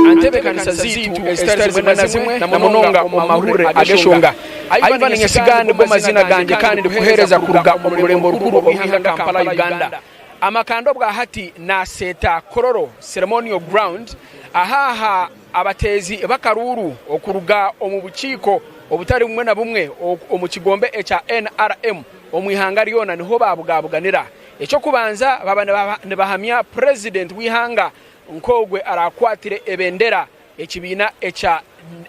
Aha ntebeekanisa zaitu ezitari zimwe na zimwe, na munonga omu mahurire ag'eshonga, Ivan Nyesiga nigo maziina gangye kandi ndikuheereza kuruga omu Rurembo Rukuru orw'eihanga Kampala, Uganda. Amakanda obwa hati naaseeta Kololo Ceremonial Ground aha aha abateezi b'akaruuru okuruga omu bukiiko obutari bumwe na bumwe omu kigombe ekya nrm omu ihanga ryona niho baabugaabuganira. Eky'okubanza baaba nibahamya Purezidenti w'eihanga Nk'ogwe araakwatire ebendera ekibiina ekya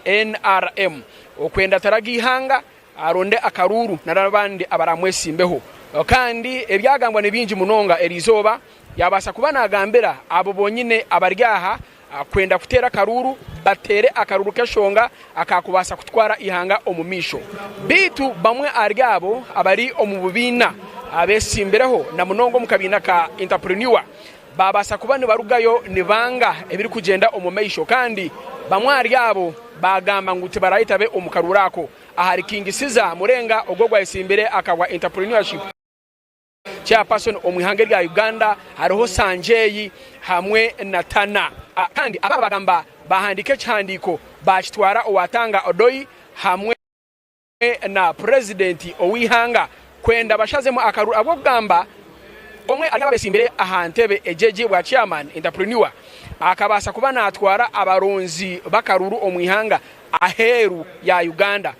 nrm okwenda ataraga eihanga aronde akaruuru nari abandi abaraamwetsimbeho. Kandi ebyagambwa ni bingi munonga eri izooba, yaabaasa kuba naagambira abo bonyine abari aha kwenda kuteera akaruuru bateere akaruuru k'eshonga akaakubaasa kutwara eihanga omu maisho. Beitu bamwe ahari abo abari omu bubiina abeetsimbireho na munonga omu kabiina ka Interpreneur Baabaasa kuba nibarugayo nibanga ebirikugyenda omu maisho kandi bamwe ahari abo baagamba ngu tibaraahita be omu karuuru ako. Ahari King Caesar Murenga ogwo ogwayetsimbire akagwa Entrepreneurship Chairperson omu ihanga erya Uganda, hariho Sanjay hamwe na Tana. Kandi abo baagamba baahandiika ekihandiiko baakitwara owa Tanga Odoi hamwe. na purezidenti ow'eihanga kwenda bashazemu akaruru ahabw'okugamba omwe ahari abo abeetsimbire aha ntebe egi egi bwa chairman, entrepreneur, akabaasa kuba naatwara abaronzi b'akaruru omu ihanga aheeru ya Uganda.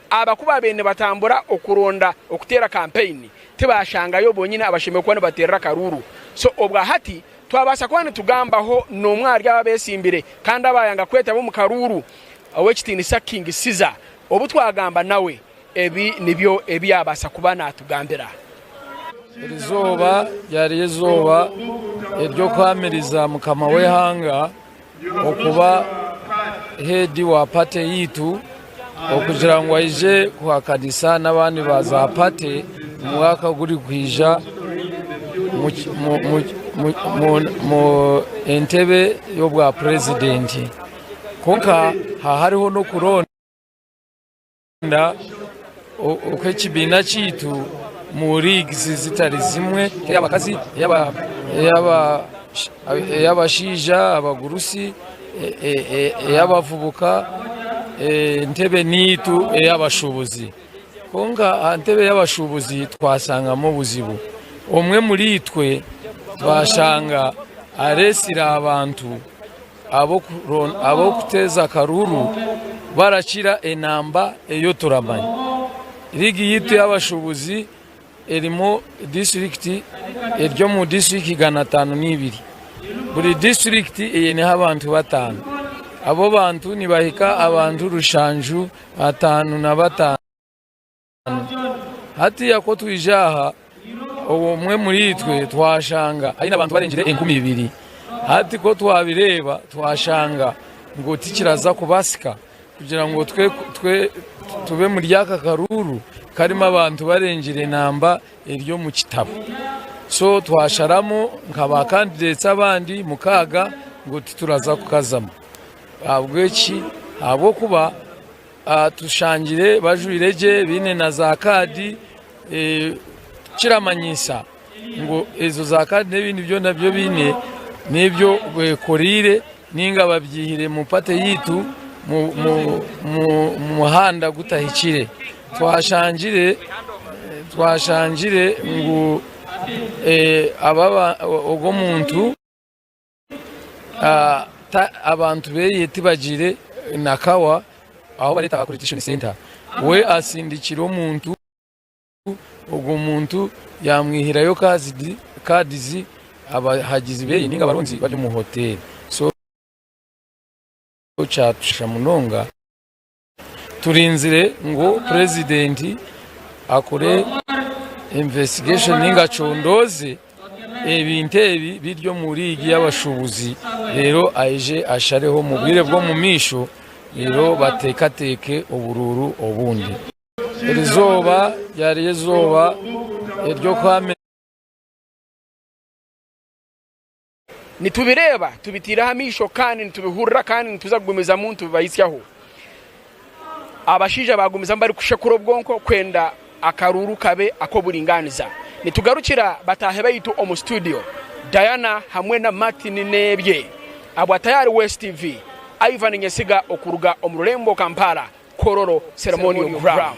Aba ku baabaire nibatambura okuronda okuteera kampeyini tibaashangayo bonyine abashemereire kuba nibateerera akaruru. So obwa hati twabaasa kuba nitugambaho n'omwe ahari abo abeetsimbire kandi abaayanga kwetaba omu karuuru, Ow'ekitiinisa King Caesar Obu twagamba nawe, ebi nibyo ebi yaabaasa kuba naatugambira. Erizooba ryari erizooba ery'okuhaamiriza mukama w'eihanga okuba heedi wa pate yaitu okugira ngu aije kuhakanisa n'abandi ba zaapate omu mwaka ogurikwija mu entebe y'obwapurezidenti. Kwonka haaba hariho n'okuronda okw'ekibiina kyaitu mu leagues zitari zimwe, ey'abakazi, ey'abashaija, abagurusi, ey'abavubuka, entebe niitu ey'abashuubuzi. Kwonka aha ntebe y'abashuubuzi twasangamu obuzibu. Omwe omuriitwe twashanga areetsire abantu Ab'okuteeza akaruuru barakira enamba ey'oturamanya. Liigi yaitu y'abashuubuzi erimu disiturikiti eri omu disiturikiti igana ataano n'eibiri. Buri disiturikiti eineho abantu bataano. Abo bantu nibahika abantu rushanju ataano na bataano. Hatiiya ku twaija aha, omwe omuriitwe twashanga aine abantu barengire enkumi ibiri. Hati ku twabireeba twashanga ngu tikiraza kubasika kugira ngu tube muri aka karuuru karimu abantu barengire namba eri omu kitabo. So twasharamu nka ba candidates abandi mukaaga ngu tituraza kukazamu. Ahabw'enki? Ahabw'okuba. Tushangire bajwaire gye baine na za kaadi ekiramanyisa ngu ezo za kaadi n'ebindi byona ebi baine n'ebyo bekoreire ninga babyihire omu pate yaitu omu muhanda gutahikire twashangire ngu ogwo omuntu Abantu beye tibagiire na kawa ahu bareeta aha Collection Centre. We atsindikira omuntu, ogwo muntu yamwihirayo kaadizi abahagizi beye ninga abarungi bari omu hoteeri. So kyatushusha munonga. Turinzire ngu purezidenti akore investigation ninga acondooze ebintu ebi biri omu liigi y'abashuubuzi reero aije ashareho omu bwire bw'omumaisho reero bateekateeke oburuuru obundi. Erizooba ryari eizooba ery'okuhamirana. Nitubireeba, tubitaireho amaisho kandi nitubihurira kandi nituza kugumizamu nitubibahitsyaho. Abashaija baagumizamu barikushekura obwonko kwenda akaruuru kabe ak'oburingaaniza. Nitugarukira bataahi baitu omu situdiyo, Diana hamwe na Martin Nebye. Abwa Tayari West TV, Ivan Nyesiga okuruga omu rurembo Kampala Kororo Ceremonial Ground.